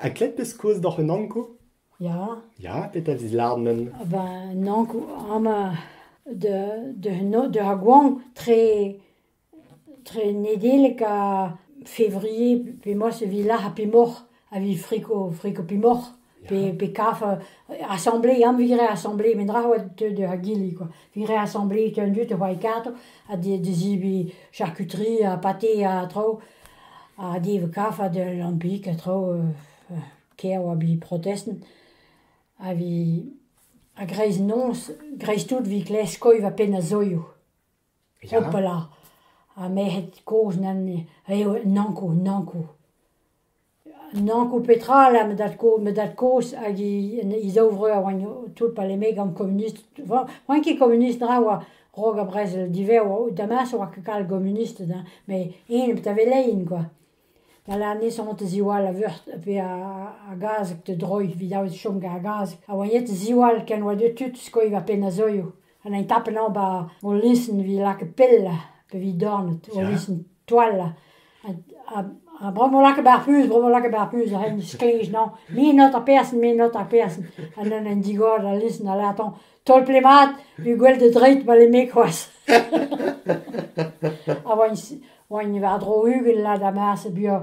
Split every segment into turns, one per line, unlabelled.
Ha graet 'peus kaoz doc'h un anko? Ya. Ya, petra 'vez lâret men? Ben un anko amañ deus ar goañv tre tre Nedeleg ha Février p'emaoc'h evit lec'h pemoc'h evit friko friko pemoc'h pe kaf asamblez am vit graet asamblez met dra oa deuet d'ur gili kwa vit graet asamblez tu an dud da c'hoari kartoù ha da zebriñ charkuterie ha pate ha traoù Ha niv kafad lampiñ ha traoù kêr oa bet protestant a vit a-greiz-noz dreist-holl vit klask koll va penn a zoioù hopala ha merc'hed kozh nann eo nankoù nankoù. Nanko petra ela ma dad-koz ma dad-koz hag he zaou-vreur a oant tout parlemmet gant komunist, oant ket komunist na oa rok ha brezel diver oa, damañ a oa ket kalz komunisted hein, met eñ bet a velein kwa, da lec'h nesañt a-ziwall a-veurt pe a gazeg da droiñ evit davet chom gant ar gazeg, ha oa ret a-ziwall ken oa deuet tud skoiñ war penn ar zeuio. Ha n'ai tapen ober o listen evit lakaat pell pe evit dornad, o listen toal. Ha bremañ vo lakaet ar puñs, bremañ vo lakaet ar puñs, ren sklej naon. Me not ar person, me not ar person. Ha neuze en digor al listen a lâr 'toñ tolple mat, evit gwell da dreit ma lemme c'hoazh. Ha oa-eñ oa-eñ war-dro ugent lad ha marse buan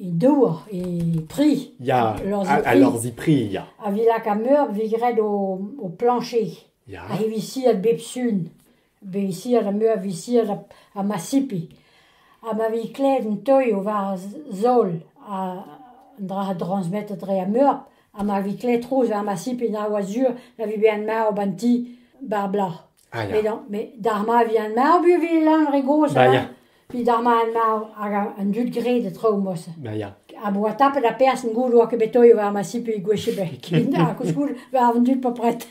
e dour, e pri. Ya, a lorzi pri, ya. A vi laka meur vi graet o, o planche. Ya. A he visiat bep sun. Visiat a meur visiat a, a ma sipi. Ha ma vi klet un toi o war zol a an dra a transmetet re a meur. Ha ma vi klet trouz war ma sipi na oa sur na vi ben ma o banti bar bla. Met hañ, met d'ar maz e vihan marv e vez lañ re gozh Ya, ya. Evit ar maz marv hag an dud graet e traoù-mañ-se. Ya, ya. A-boa tapet ar person goude oa ket bet toiet war ma si pe gwech ebet. Ha koulskoude war an dud pas pret.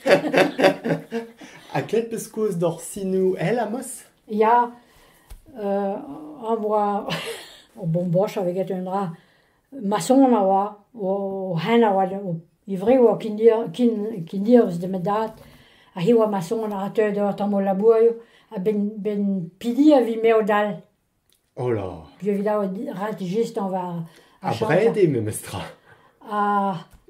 Ha klet peus kozh d'hor sinoù èl, Amos? Ya, euh, a voa... Ur bomboch a vez get un dra. Masson a oa o c'hein a oa e wreg a oa kinnirzh da'm dad ha hi a oa Masson a ra teuet eo tamm o labourioù a-benn pediñ a vi mev-dall. O la! Evit ret just anv ar chanter. Abred eo memestra. Ha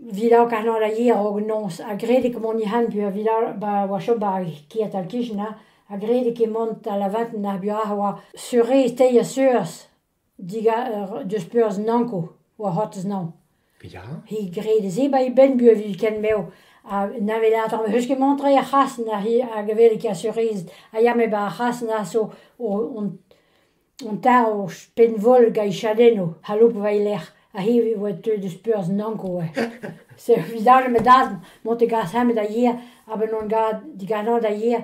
evit aozañ kanol a yer hag noz ha graet eo ket mont hent peogwir evit ba oa chom ba kêr-tal Kichen ha graet eo ket mont da lavaret ar buoc'h a oa seurez teir seurez. Digar deus perzh nanko war c'hortez nann. Ya. He graet se ba' e benn-bu evit ken bev ha na welet tamm eus ket mont tre er c'hrasenn a hi hag a welet kasurezed a ya me ba ar c'hrasenn a so hon tarv o penn-voll gant e chadennoù aloub war e lerc'h ha hi e oa deuet deus perzh nanko e. Se evit dale ma dad mont e gas-eñ met da yer a-benn on gad diganin da yer.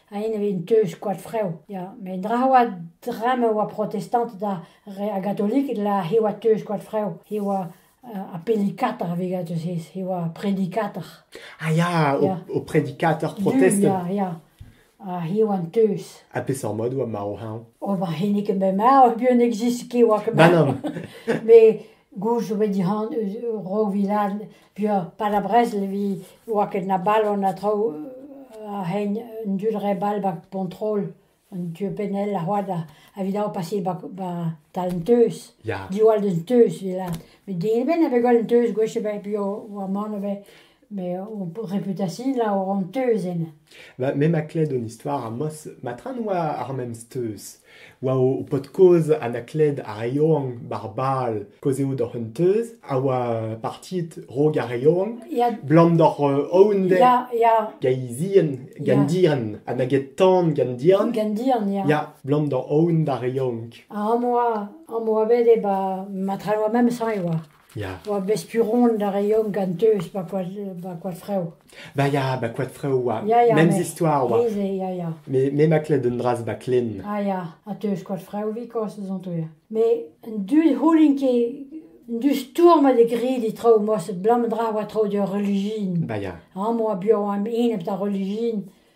A-ene 'vit deus koad-frev ya met ndra a oa dra ma oa protestanted ha gatoliked la he oa teuz koad-frev he oa appelikator a-vegad eus he he oa predikator. Ah ya o predikator protestant. Ya ya ha he oa an teuz. Ha peseurt mod oa marv hañv? O ba hennezh ket bet marv buan n'existe ket oa ket marv. Ma non. Met gouzout 'vo dit-han ro vilad Pia pa na brezl evit oa ket na balo na traoù a-hegn un dud re ball 'ba Pontrol, an tu pennel a oa da evit dao paseet 'ba tal an Teuz, diwall d'un teuz evit lâret. Met din ebet na vez gwall an teuz gwech ebet pia oa mann ivez met o reputasion la oa an teuz enne. Me ma kled un istor amos, ma tra 'noa ar memes teuz. War ho paotr-kozh Anacled ar re Yaouank, Bar Bal, kaozeout oc'h un teuz, a oa partiet Rok ar re Yaouank, 'blam doc'h Aoundek, gaezien, gandian, ha na get tan gandian, ya, 'blam doc'h Aound ar re Yaouank. Ha am boa bet e ba ma traloa memes hañv e oa. Ya. Oa bet spuront a reomp gant deus ba koad ba koad Frev. Bah ya, ba koad Frev oa. Ya, ya, Memes mais- histoire oa. He-se, ya, ya. Me, me ma klet un dras ba Klen. Ah ya, ha teus koad Frev bikoz ez on touer. Mais un du houlin ket, un du stourm a de gri di traoù moa se blam dra oa traoù d'ur religion. Bah ya. Ha moa buañ am in ep da religion.